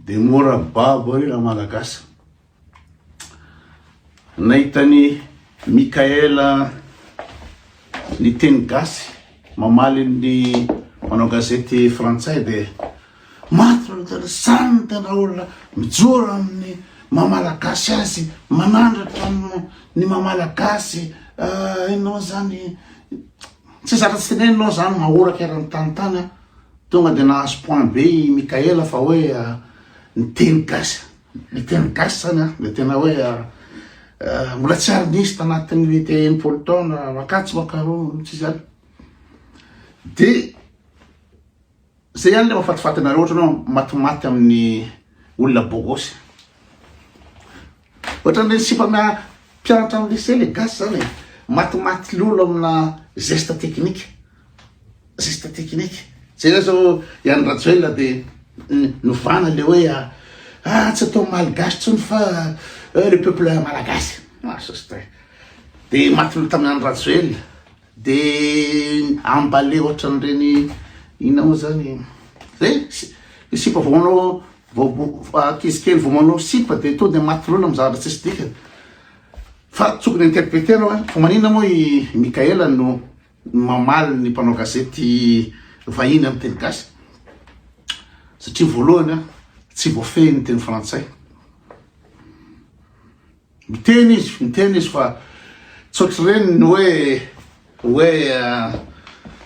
Dia mora babo re ra malagasy. Nahita ny Mickaël ny teny gasy mamaly ny manao gazety frantsay dia maty ny tena samy ny tena olona mijoro amin'ny mamalagasy azy manandratra ny mamalagasy ah, ianao zany tsy zaka tsy tenenina zany mahoraka eran'ny tany tany Tonga dia nahazo point be i Mickaël fa hoe ny teny gasy, ny teny gasy izany an, dia tena hoe mbola tsy ary nisy tanatin'ny hoe te enimpolo taona makatso makaroa tsy izany. Dia zay ihany le mafatifatinareo ohatranao matimaty amin'ny olona bogosy. Ohatran le sipa amina mpianatra am lycée le gasy zany e! Matimaty lolo amina zesta teknika, zesta teknika. Jereo zao i Andry Rajoelina de novana le hoe ah tsy atao malgache tsony fa le peuple malagasy. Ah sostre. De maty lolo tamin Andry Rajoelina de emballé ohatran reny inona mo zany e! Zay e! Sipa vao manao Vao ankizy kely vao manao sipa dia tonga dia maty loana amin'ny zavatra tsisy dikany. Fa tokony interpreter hoe fa maninona moa i Mickaël no mamaly ny mpanao gazety vahiny amin'ny teny gasy? Satria voalohany tsy voafehy ny teny frantsay. Miteny izy, miteny izy fa tsy ohatr'ireny ny hoe hoe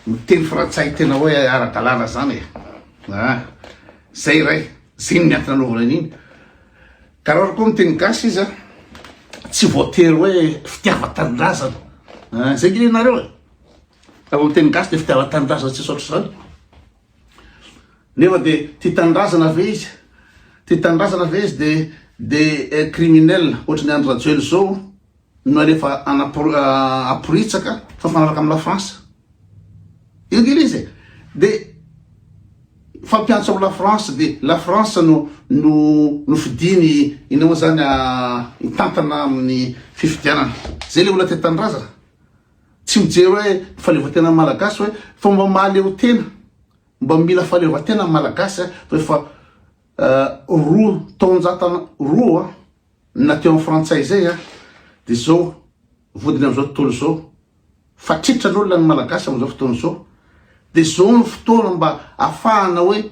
miteny frantsay tena hoe ara-dalàna izany e. Ah, izay iray, izay ny miantona anaovana an'iny. Ka raha koa miteny gasy izy a, tsy voatery hoe fitiavan-tanindrazana. Ah, izay gidinareo e. Raha vao miteny gasy dia fitiavan-tanindrazana tsy misy ohatr'izany. Nefa dia tia tanindrazana ve izy? Tia tanindrazana ve izy dia criminel ohatran'i Andry Rajoelina izao no alefa aporitsaka fa mifanaraka amin'ny Lafrantsa? Io kely izy e! Dia fampiantso amin'ny Lafrantsa dia Lafrantsa no no fidiny inona moa izany hitantana amin'ny fifidianana. Izay ilay olona tia tanindrazana. Tsy mijery hoe ny fahaleovantenan'ny Malagasy hoe fa mba mahaleo tena, mba mila fahaleovantena ny Malagasy fa efa roa taonjatana roa na teo amin'ny Frantsay izay dia izao vodiny amin'izao tontolo izao fa tritran'olona ny Malagasy amin'izao fotoana izao dia izao ny fotoana mba afahana hoe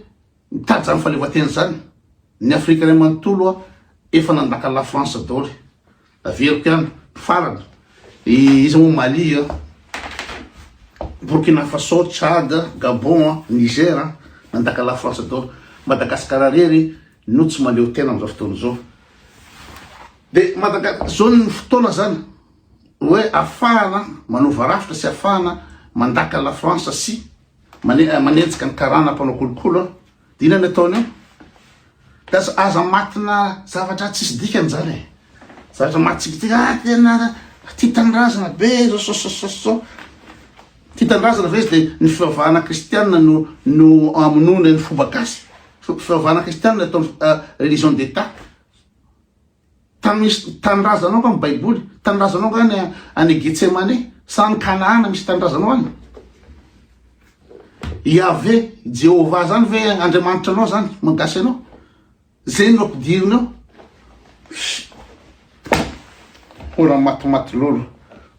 Mitady zany fahaleovantena zany ny afrika ray manontolo a efa nandaka la france daoly averiko ihany farany iza moa mali a burkina faso tchad gabon a niger a nandaka la france daoly madagascar rery no tsy maleo tena amizao fotoana zao de madaga zao ny fotoana zany hoe afahana manova rafitra sy afahana mandaka la france sy Manenjika ny karana mpanao kolokolo an. Dia inona no ataony eo? Dia aza matina zavatra tsisy dikany izany e. Zavatra matsikitika, ah tena tia tanindrazana be zao sao sao sao sao. Tia tanindrazana ve izy dia ny fivavahana kristianina no no amonoana ny fomba gasy. Fivavahana kristianina ataony religion d'état. Tamis tanindrazanao nga ny baiboly? Tanindrazanao nga any any Getsemane? Sa any Kanaana misy tanindrazanao any? Yaveh, Jehovah zany ve Andriamanitra anao zany maha gasy anao? Zay no ampidiriny ao? Mbola matimaty lolo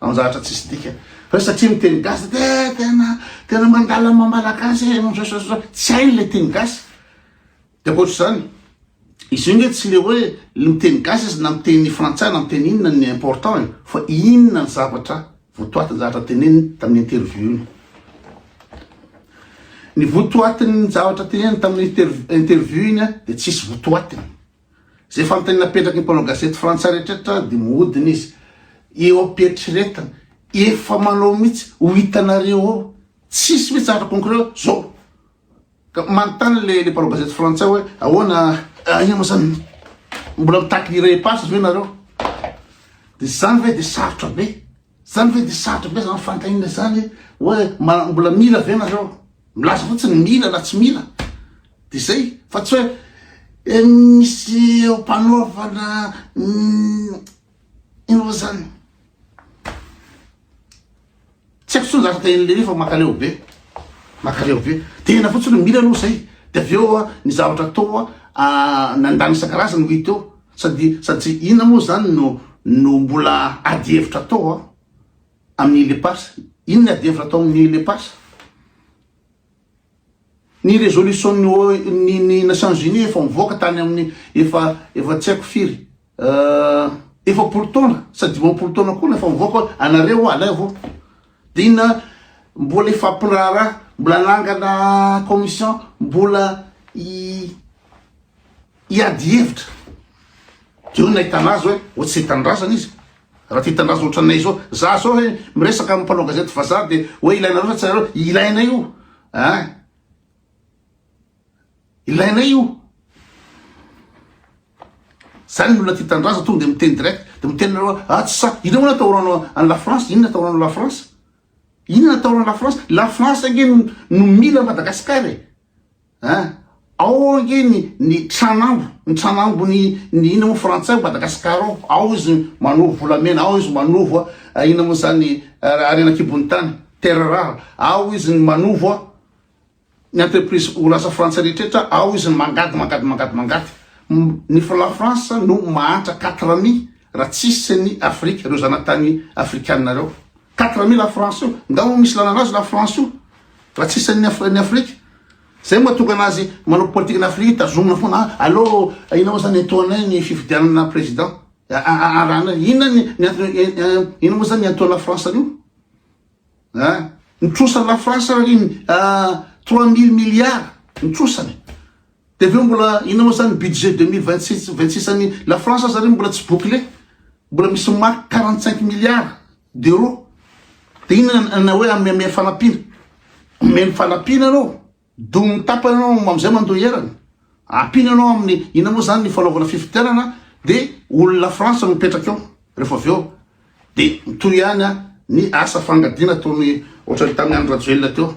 amin'ny zavatra tsisy dikany. Fa satria miteny gasy de tena tena mandala maha malagasy e, misaosaosa. Tsy hainy le teny gasy. Dia ankoatra izany, izy io nge tsy le hoe le miteny gasy izy na miteny frantsay na miteny inona ny important e, fa inona ny zavatra votoatin'ny zavatra teneniny tamin'ny interview-ny. Ny votoatin'ny zavatra teneniny tamin'ny interview-ny dia tsisy votoatiny. Izay fanontaniana apetraky ny mpanao gazety frantsay rehetra dia mihodina izy eo am-pieritreretana, efa manao mihitsy ho hitanareo ao, tsisy mihitsy zavatra concret zao Ka manontany le le mpanao gazety frantsay hoe ahoana aia moa zany mbola mitaky ny repas ve nareo de zany ve de sarotra be zany ve de sarotra be zany fantaina zany hoe mbola mila ve nareo milaza fotsiny mila na tsy mila de zay fa tsy hoe e misy eo mpanaovana ino moa zany Tsy haiko tsony zaka tahin'i Lery fa makaleo be makaleo be tena fotsiny no mila aloha zay de avy eo a ny zavatra atao a nandany isan-karazany ho hita eo sady sady tsy inona moa zany no no mbola ady hevitra atao a amin'ny Lepas inona ady hevitra atao amin'ny Lepas Ny resolution-n'ny O, n'ny ny Nations Unies efa mivoaka tany amin'ny efa efa tsy haiko firy efapolo taona sa dimampolo taona koa no efa mivoaka hoe anareo ho alaivo. Dia inona mbola hifampiraharaha, mbola hanangana commission, mbola hi hiady hevitra de eo nahitana azy hoe ohatry zay tanindrazana izy raha tia tanindrazana ohatranay zao za zao hoe miresaka amin'ny mpanao gazety vazaha de hoe ilainareo sa tsy ilainareo ilainay io a ah. ilainay io zany ny olona tia tanindrazana tonga de miteny direct de miteny nareo a ah, tsy sa inona moa natahoranao any la france inona atahoranao la france inona natahoranao la france la france ange no mila madagasikara e Hein? Ao ange ny ny tranambo, ny tranambo ny ny ina moa frantsay ao Madagascar ao, ao izy manovo volamena, ao izy manovo a ina moa zany harena kibon'ny tany, terre rare, ao izy ny manovo a ny entreprise orinasa frantsay rehetra ao izy ny mangady mangady mangady mangady. Ny la France no mahantra quatre amis raha tsisy ny Afrique reo zanatany afrikana reo. Quatre mille à francs io, ngamba misy lalana azy la France io raha tsy isan'ny Af ny Afrique. Zay mahatonga anazy manao politique ny Afrique tazomina foana a allo inona moa zany iantohanay ny fifidianana président arahanay inona ny ny antony inona moa zany ny iantohan'ny la France an'io a ny trosan'ny la France ry a trois mille milliards ny trosany De avy eo mbola inona moa zany budget deux mille vingt six vingt six an'i la France aza re mbola tsy bouclé, mbola misy marque quarante cinq milliards d'euros, de inona na hoe amy amy fanampiana, omeny fanampiana anao, domin'ny tapany anao am'zay mandoa erany, ampiana anao amin'ny inona moa zany ny fanaovana fifidianana de olona France no mipetraka eo rehefa avy eo. Dia mitohy ihany ny asa fangadiana ataony ohatran'ny tamin'ny Andry Rajoelina teo.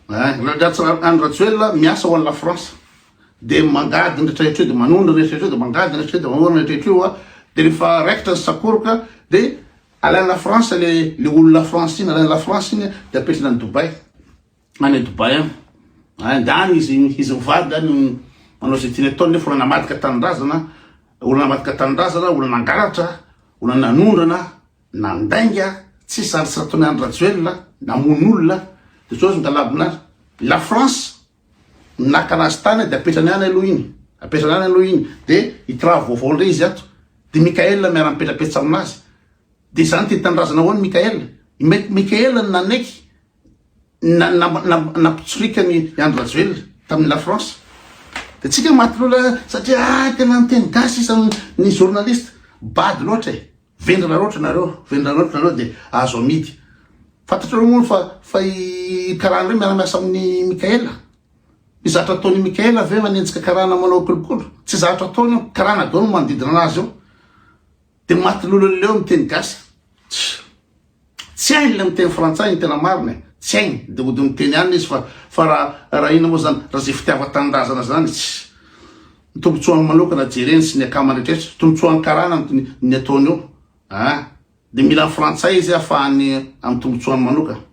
Raha Andry Rajoelina miasa ho an'i La France dia mangady ny rehetra io dia manohy ny rehetra io dia mangady ny rehetra io dia manohy ny rehetra io dia rehefa raikitra ny sakoroka dia alain'i La France le le olon'i La France iny, alain'i La France iny dia apetrany any Dubaï. any Dubai any. Any ndany izy izy mivady ndany manao izay tiany ataony nefa olona namadika tanindrazana, olona namadika tanindrazana, olona nangalatra, olona nanondrana, nandainga, tsy sary tsy nataony Andry Rajoelina, namono olona, dia sao izy migalabona any. La France naka anazy tany dia apetrany any aloha iny, apetrany any aloha iny, dia hitravo vaovao indray izy ato. Dia Mikael miara mipetrapetsa aminazy. Dia izany tia tanindrazana ahoana Mikael? I Mikael nanaiky nampitsorikany i Andry Rajoelina tamin'ny La France. Dia tsika maty lola satria ah, tena niteny gasy isan'ny ny journaliste. Bado loatra e. Vendrana loatra nareo, vendrana loatra nareo dia azo amidy. Fantatrareo moa fa fa i karana ireo miara-miasa amin'ny Mikaela. Ny zatra ataon'i Mikaela ve manenjika karana manao kolokolo? Tsy zatra ataony io, karana daholo manodidina anazy io. Dia maty lola leo miteny gasy. Tsy hainy le miteny frantsay ny tena marina e, tsy hainy de ody miteny any izy fa fa ra ra inona moa zany ra ze fitiava tanindrazana zany tsy ny tombotsoa aminy manokana jereny sy ny akamany retrretra tombotsoa any karana ny ny ny ataony eo a de mila ny frantsay izy afahany amy tombotsoa any manokana.